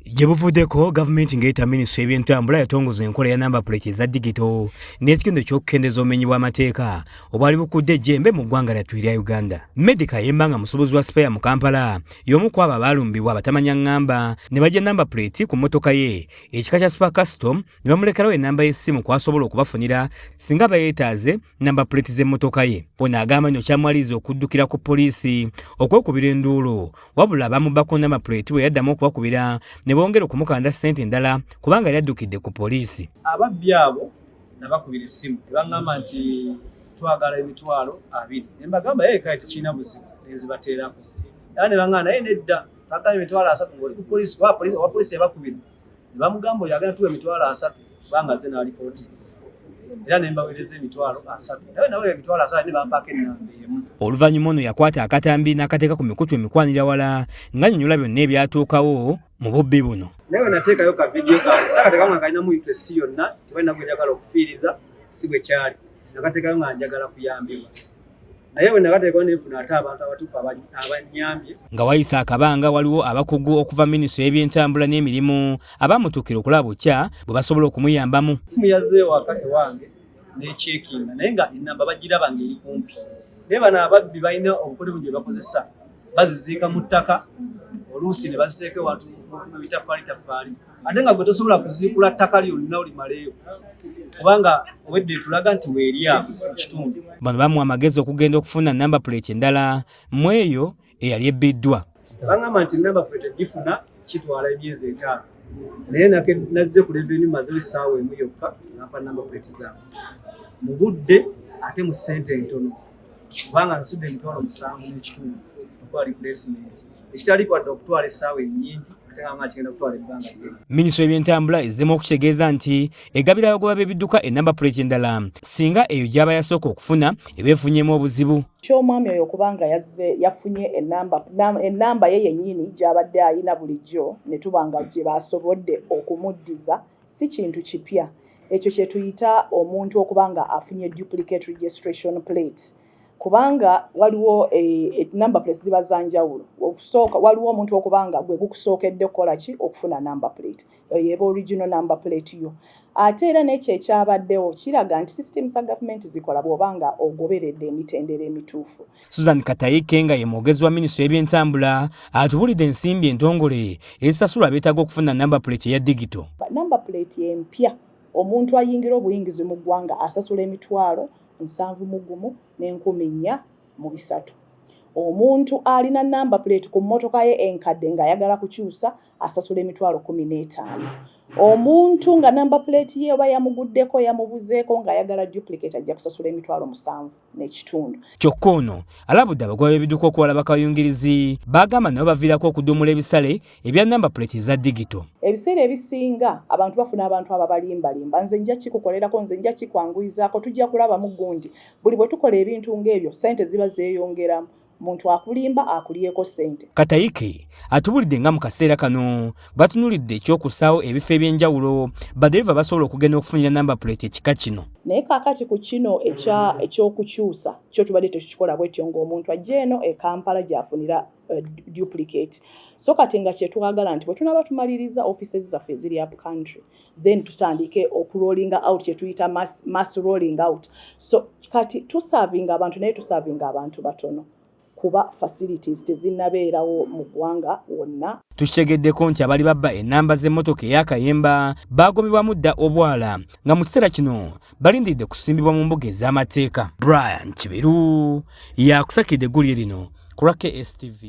Gye buvuddeko gavumenti ng'eyita minisitule y'ebyentambula yatongoza enkola ya namba puleti eza digito n'ekigendo ky'okukendeeza obumenyi bw'amateeka obwali bukudde ejjembe mu ggwanga lyattu erya uganda medica yemba nga musuubuzi wa sipeya mu kampala y'omu ku abo abaalumbibwa abatamanya ŋŋamba ne bajja namba puleti ku mmotoka ye ekika kya super custom ne bamulekerawo ennamba y'essimu kw'asobola okubafunira singa bayeetaaze namba puleeti z'emmotoka ye ono agamba nti okyamwaliriza okuddukira ku poliisi okwekubira enduulu wabula bamubbako namba puleeti bwe yaddamu okubakubira ne bongera okumukanda ssente endala kubanga yali addukidde ku poliisi ababbi abo nabakubira essimu tebaŋŋamba nti twagala emitwalo abiri ne mbagamba ye kale tekirina buzibu ne nzibateerako era ne baŋŋamba naye nedda bagamba emitwalo asatu ng'oli ku poliisi owa poliisi yabakubira ne bamugamba oyo agenda tuwa emitwalo asatu kubanga nze n'alipooti era ne mbaweereza emitwalo asatu naye nawe emitwalo asatu ne bampaako ennamba emu oluvannyuma ono yakwata akatambi n'akateeka ku mikutu emikwanira wala ng'anyonyola byonna ebyatuukawo mu bubbi buno naye we nateekayo ka vidiyo kange saakatekamwe kalinamu interest yonna tebalina gwe njagala okufiiriza si bwe kyali nakateekayo nga njagala kuyambibwa naye bwe nabateekwa nenfuna ate abantu abatuufu abannyambye nga wayise akabanga waliwo abakugu okuva minisitule y'ebyentambula n'emirimu abamutuukira okulaba bukya bwe basobola okumuyambamu simu yazze ewaka ewange n'ekyekinga naye nga enamba bagiraba ng'eri kumpi naye bano ababbi balina obukolebu gye bakozesa baziziika mu ttaka oluusi ne baziteeka ewantu mu bitafaali tafaali ate nga gwe tosobola kuziikula ttaka lyonna olimaleyo kubanga obwedde etulaga nti weerya mu kitundu bano bamuwa amagezi okugenda okufuna namba puleti endala mu eyo eyali ebbiddwa bangamba nti namba puleti egifuna kitwala emyezi etaano naye nazze ku leveni mazewo essaawa emu yokka nampa namba puleti zaabwe mu budde ate mu ssente entono kubanga nsudde emitwalo musanvu n'ekitundu okwali pulesimenti ekitali kwadde okutwala essaawa ennyingi ate nga nga kigenda kutwala ebbanga ddene minisitule y'ebyentambula ezzemu okukitegeeza nti egabira abagoba b'ebidduka enamba puleeti endala singa eyo gy'aba yasooka okufuna eba efunyemu obuzibu ky'omwami oyo okuba nga yazze yafunye enamba ye yennyini gy'abadde ayina bulijjo ne tuba nga gye baasobodde okumuddiza si kintu kipya ekyo kye tuyita omuntu okuba nga afunye duplicate registration plate kubanga waliwo e, e, number plate ziba za njawulo okusooka waliwo omuntu okubanga gwe gukusookedde okukola ki okufuna number plate eyo eba original number plate yo ate era n'ekyo ekyabaddewo kiraga nti system za gavumenti zikola bw'oba nga ogoberedde emitendera emituufu susan katayike nga ye mwogezi wa minisitule y'ebyentambula atubulidde ensimbi entongole ezisasulwa abeetaaga okufuna number plate eya digito number plate empya omuntu ayingira obuyingizi mu ggwanga asasula emitwalo nsanvu mu gumu n'enkumi nnya mu bisatu. Omuntu alina nnamba puleeti ku mmotoka ye enkadde ng'ayagala kukyusa asasula emitwalo kkumi n'etaano. Omuntu nga nnamba puleeti ye oba yamuguddeko yamubuzeeko ng'ayagala duplicate ajja kusasula emitwalo musanvu n'ekitundu. Kyokka ono alabudde abagoba b'ebidduka okuwalaba kayungirizi b'agamba nabo baviirako okuduumula ebisale ebya namba puleti eza digito. Ebiseera ebisinga abantu bafuna abantu ababalimbalimba, nze nja kikukolerako, nze nja kikwanguyizaako, tujja kulabamu gundi. Buli bwe tukola ebintu ng'ebyo, ssente ziba zeeyongeramu. muntu akulimba akulyeko ssente. Katayike atubulidde nga mu kaseera kano batunulidde ekyokusaawo ebifo eby'enjawulo badereva basobola okugenda okufunira namba puleti ekika kino. Naye kaakati ku kino ekyokukyusa kyo tubadde tekikikola bwetyo ng'omuntu ajja eno e Kampala gy'afunira uh, duplicate so kati nga kyetwagala nti bwetunaba tumaliriza offices zaffe eziri up country then tutandike okurolling out kyetuyita mass, mass rolling out so kati tusavinga abantu naye tusavinga abantu batono kuba facilities tezinabeerawo mu ggwanga wonna tukitegeddeko nti abali babba enamba z'emmotoka eyakayemba baagobebwamu dda obwala nga mu kiseera kino balindiridde kusimbibwa mu mbuga ez'amateeka brian kibiru yakusakidde eggulire lino ku lwa kstv